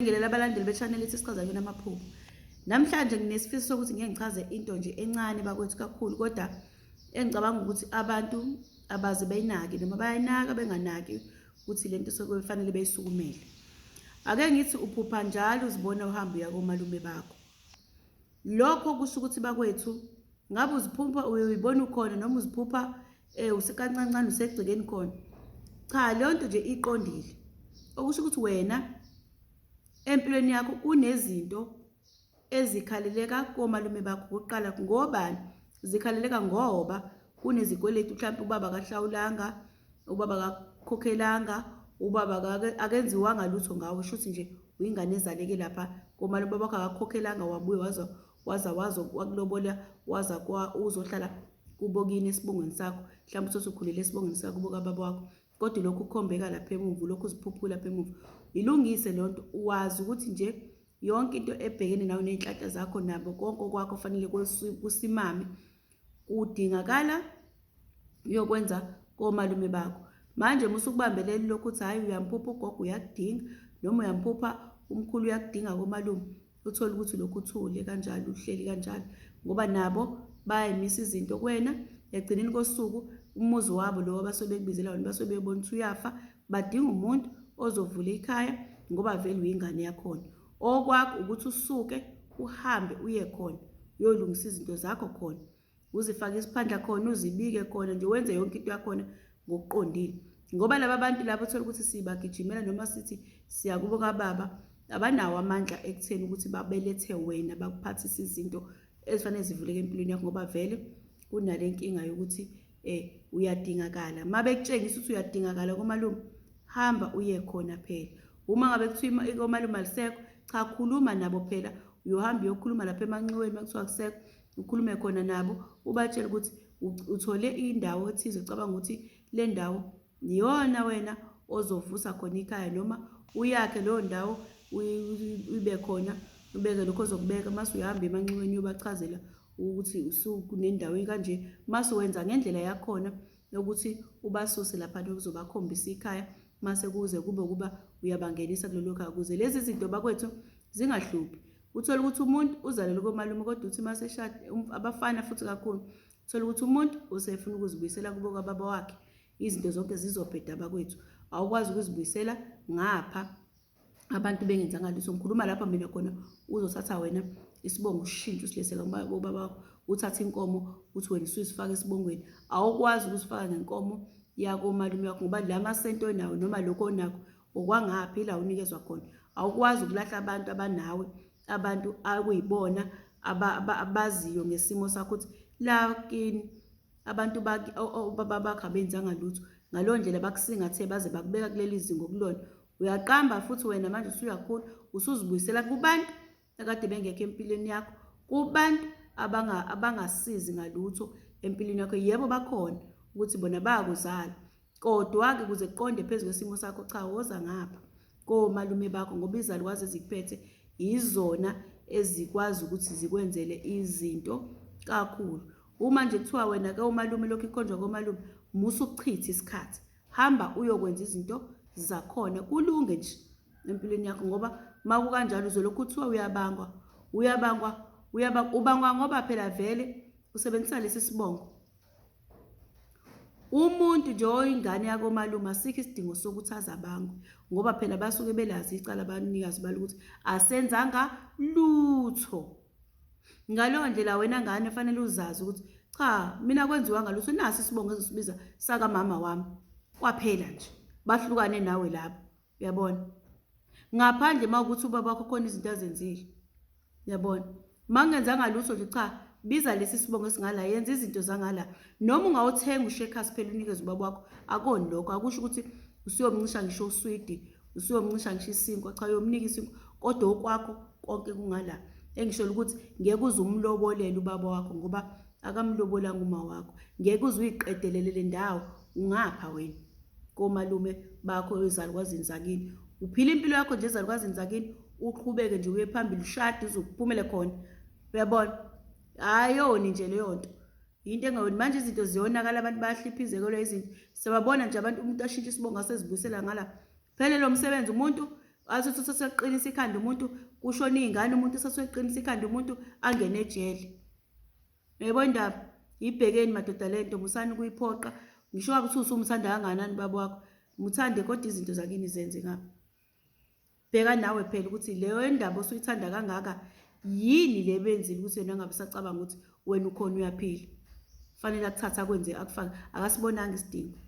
Ngibingelele abalandeli be-channel ethi Sichaza Yona Amaphupho. Namhlanje nginesifiso sokuthi ngeke ngichaze into nje encane bakwethu kakhulu kodwa engicabanga ukuthi abantu abaze beyinaki noma bayayinaka benganaki ukuthi le nto sekufanele beyisukumele. Ake ngithi uphupha njalo uzibona uhamba uya komalume bakho. Lokho kusho ukuthi bakwethu ngabe uziphupha uyibona ukhona noma uziphupha eh usekancancane usegcekeni khona. Cha leyo nto nje iqondile. Okusho ukuthi wena empilweni yakho kunezinto ezikhaleleka komalume bakho kuqala ngobani zikhaleleka ngoba kunezikweletu mhlawumbe ubaba kahlawulanga ubaba akakhokhelanga ubaba akenziwanga lutho ngawe shuthi nje uyingane ezaleke lapha komane ubaba wakho akakhokhelanga wabuye waza waza wazo wakulobola waza kwa uzohlala kubo kini esibongweni sakho mhlawumbe uthi usukhulele esibongweni sakho kubo kababa wakho kodwa lokhu ukhombeka lapha emuva lokhu uziphuphula lapha emuva ilungise le nto wazi ukuthi nje yonke into ebhekene nawe ney'nhlanhla zakho nabo konke okwakho fanele kusimame kudingakala uyokwenza komalume bakho manje uma usukubambeleli lokhu ukuthi hhayi uyamphupha ugogo uyakudinga noma uyamphupha umkhulu uyakudinga komalume uthole ukuthi lokhu uthule kanjalo uhleli kanjalo ngoba nabo bayayimisa izinto kuwena ekugcineni kosuku umuzi wabo lowo abasuke bekubizela wona basuke bebona ukuthi uyafa badinga umuntu ozovula ikhaya ngoba vele uyingane yakhona Okwakho ukuthi usuke uhambe uye khona uyolungisa izinto zakho khona uzifake isiphandla khona uzibike khona nje wenze yonke into yakhona ngokuqondile ngoba laba bantu labo thola ukuthi sibagijimela noma sithi siyakubo kababa abanawo amandla ekutheni ukuthi babelethe wena bakuphathise izinto ezifanele zivuleke empilweni yakho ngoba vele kunale nkinga yokuthi um uyadingakala uma bekutshengisa ukuthi uyadingakala komalume hamba uye khona phela uma ngabe kuthiwa komalume alisekho cha khuluma nabo phela uyohamba uyokhuluma lapha emanxiweni uma kuthiwa kusekho ukhulume khona nabo ubatshele ukuthi uthole indawo ethize ucabanga ukuthi le ndawo Iyona wena ozovusa khona ikhaya noma uyakhe leyo ndawo ibe khona ubeke lokho ozokubeka mase uyahamba emanxiweni uyobachazela ukuthi usukunendawo kanje mase wenza ngendlela yakhona yokuthi ubasuse lapha nokuzobakhombisa ikhaya mase kuze kube ukuba uyabangenisa kulelo khaya kuze lezi zinto bakwethu zingahluphi uthole ukuthi umuntu uzalelwe komalume kodwa uthi mase shade um, abafana futhi kakhulu Thola ukuthi umuntu usefuna ukuzibuyisela kubo kwababa wakhe izinto zonke zizobheda bakwethu awukwazi ukuzibuyisela ngapha abantu bengenzanga lutho ngikhuluma lapha mina khona uzothatha wena isibongo ushintshe usileseka ubaba wakho uthathe inkomo uthi wena usuyisifaka esibongweni awukwazi ukusifaka ngenkomo yakomalume wakho ngoba la masento onawo noma lokho onakho okwangaphi la unikezwa khona awukwazi ukulahla abantu abanawe abantu akuyibona abaziyo ngesimo sakho ukuthi la kini abantu obaba bakho abenzanga lutho ngaleyo ndlela bakusingathe baze bakubeka kuleli zinga okulona uyaqamba futhi wena manje usuyakhula usuzibuyisela kubantu akade bengekho empilweni yakho kubantu abangasizi ngalutho empilweni yakho yebo bakhona ukuthi bona bayakuzala Kodwa-ke kuze kuqonde phezu kwesimo sakho cha woza ngapha komalume bakho ngoba izalukwazi ezikuphethe yizona ezikwazi ukuthi zikwenzele izinto kakhulu. Uma nje kuthiwa wena ke umalume lokhu ikhonjwa komalume musa ukuchitha isikhathi. Hamba uyokwenza izinto zakhona kulunge nje empilweni yakho ngoba makukanjalo uzolokhu kuthiwa uyabangwa uyabangwa uyabangwa ubangwa ngoba phela vele usebenzisa lesi sibongo. Umuntu nje oyingane yakomalume asikho isidingo sokuthi aze abangwe ngoba phela basuke belazi icala abanikazi balo ukuthi asenzanga lutho. Ngaleyo ndlela wena ngane fanele uzazi ukuthi cha mina kwenziwanga lutho nasi isibongo ezosibiza sakamama wami kwaphela nje bahlukane nawe laba. Uyabona? Ngaphandle uma ukuthi ubaba wakho khona izinto azenzile. Uyabona? Uma ngenzanga lutho nje cha biza lesi sibongo esingala yenza izinto zangala noma ungawuthenga ushekers phela unikeze ubaba wakho akoni lokho akusho ukuthi usuyomncisha ngisho uswidi usuyomncisha ngisho isinkwa cha uyomnika isinkwa kodwa okwakho konke kungala engisholo ukuthi ngeke uze umlobolele ubaba wakho ngoba akamlobolanga uma wakho ngeke uze uyiqedelele le ndawo ungapha wena komalume bakho ezalukwazini zakini uphila impilo yakho nje ezalukwazini zakini uqhubeke nje uye phambili ushade uzokuphumele khona uyabona ayoni nje leyo nto yinto engayoni manje izinto ziyonakala abantu bayahliphizekelwa izinto siyababona nje abantu umuntu ashintshe isibongo asezibuyisela ngala phele lo msebenzi umuntu asuthi useseqinisa ikhanda umuntu kushona iy'ngane umuntu useseqinisa ikhanda umuntu angene ejele Yebo ndaba yibhekeni madoda lento musani kuyiphoqa ngisho ukuthi usumthanda kanganani baba wakho muthande kodwa izinto zakini zenze ngapha bheka nawe phela ukuthi leyo endaba osuyithanda kangaka yini le benzile ukuthi yena ngabe sacabanga ukuthi wena ukhona uyaphila fanele akuthatha akwenze akufake akasibonanga isidingo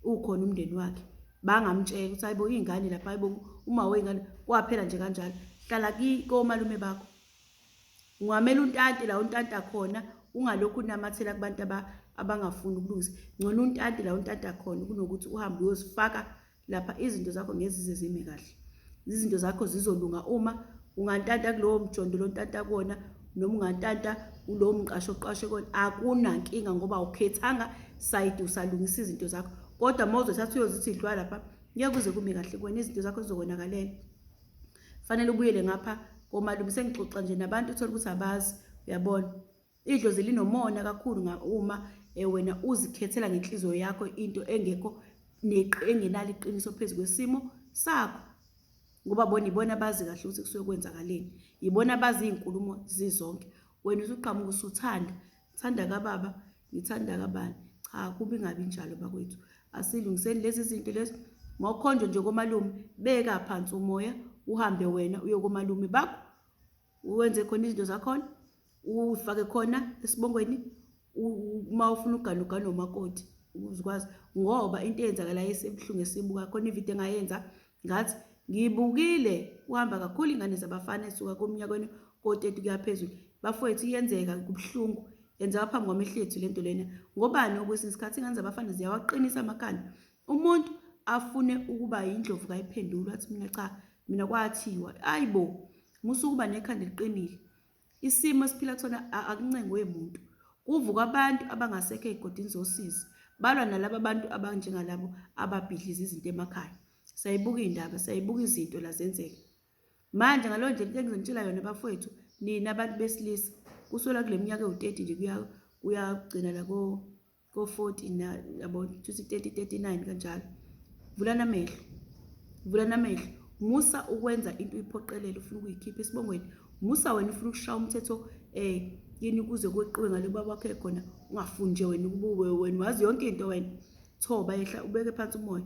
ukhona umndeni wakhe bangamtshela ukuthi hayibo iy'ngane lapha hayibo uma wey'ngane kwaphela nje kanjalo hlala komalume bakho ungamele untante la untanta khona ungalokhu unamathela kubantu abangafuni ukulungisa ngcono untante la untanta khona kunokuthi uhambe uyozifaka lapha izinto zakho ngezize zime kahle izinto zakho zizolunga uma ungantanta kulowo mjondo lontanta kuwona noma ungantanta kulowo mqasho oqashe kuwona akunankinga ngoba awukhethanga sayidi usalungisa izinto zakho kodwa uma uzothatha uyozithi idlwa lapha ngeke kuze kume kahle kuwena izinto zakho zizokonakalela fanele ubuyele ngapha komalume sengixoxa nje nabantu uthole ukuthi abazi uyabona idlozi linomona kakhulu uma eh, wena uzikhethela ngenhliziyo yakho into engekho engenalo iqiniso phezu kwesimo sakho ngoba bona ibona abazi kahle ukuthi kusuke kwenzakaleni yibona abazi iy'nkulumo zizonke wena usuqhamuka usuthanda thanda kababa Ngithanda kabani? Cha kubi ngabi njalo bakwethu. Asilungiseni lezi zinto lezi. Mawukhonjwe nje komalume beka phansi umoya uhambe wena uye komalume bakho. Uwenze khona izinto zakhona. Ufake khona esibongweni uma ufuna uganuga nomakoti ukuzikwazi ngoba into eyenzakalayo esebuhlungu esibuka khona ividiyo engayenza Ngathi, Ngiyibukile kuhamba kakhulu ingane zabafana esuka komnyakweni ko-30 kuya phezulu. Bafowethu, iyenzeka, kubuhlungu. Yenzeka phambi kwamehlo ethu lento lena. Ngobani okwesinye isikhathi ingane zabafana ziyawaqinisa amakhanda. Umuntu afune ukuba yindlovu kayiphendulwa athi mina cha, mina kwathiwa. Ayibo, musukuba nekhanda eliqinile. Isimo esiphila kusona akuncengwe muntu. Kuvuka abantu abangasekho ey'godini zosizi, balwa nalaba bantu abanjengalabo ababhidliza izinto emakhaya. Sayibuka iy'ndaba, sayibuka izinto la zenzeka. Manje ngaleyo ndlela into engizonitshela yona bafowethu, nina abantu besilisa, kusukela kule minyaka ewu-30 nje kuyagcina la ko ko-40 na yabo kushuthi 3039 kanjalo vulana amehlo vulana amehlo musa ukwenza into uyiphoqelele ufuna ukuyikhipha esibongweni musa wena ufuna ukushaya umthetho eh yini kuze kweqiwe ngale baba wakho ekhona ungafuni nje wena ukubuwe wena wazi yonke into wena thoba yehla ubeke phansi umoya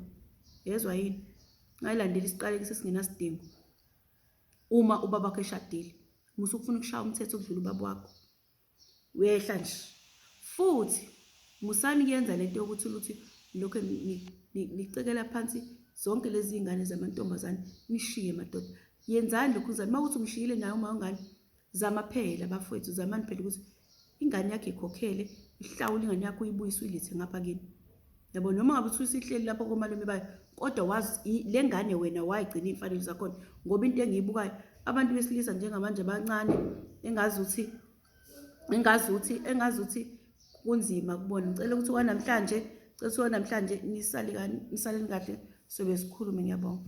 yezwa yini ngayilandela isiqaleki sesingenasidingo uma ubaba wakho eshadile musa ukufuna ukushaya umthetho ukudlula ubaba wakho Uyayihla nje. Futhi musani kuyenza lento yokuthi ukuthi lokho nicekela phansi zonke lezi zingane zamantombazane nishiye madoda. Yenzani lokhu uzani mawuthi umshiyile naye uma ungane zama phela bafowethu zamani phela ukuthi ingane yakhe ikhokhele ihlawule ingane yakho uyibuyise uyilithe ngapha kini. yabo noma ngabe uthi usihleli lapho komalume bayo kodwa wazi le ngane wena wayigcina iy'mfanelo zakhona ngoba into engiyibukayo abantu besilisa njengamanje abancane engazi ukuthi engazi ukuthi engazi ukuthi kunzima kubona ngicela ukuthi wanamhlanje cela ukuthi wanamhlanje nisalekani nisaleni kahle sobe sikhulume ngiyabonga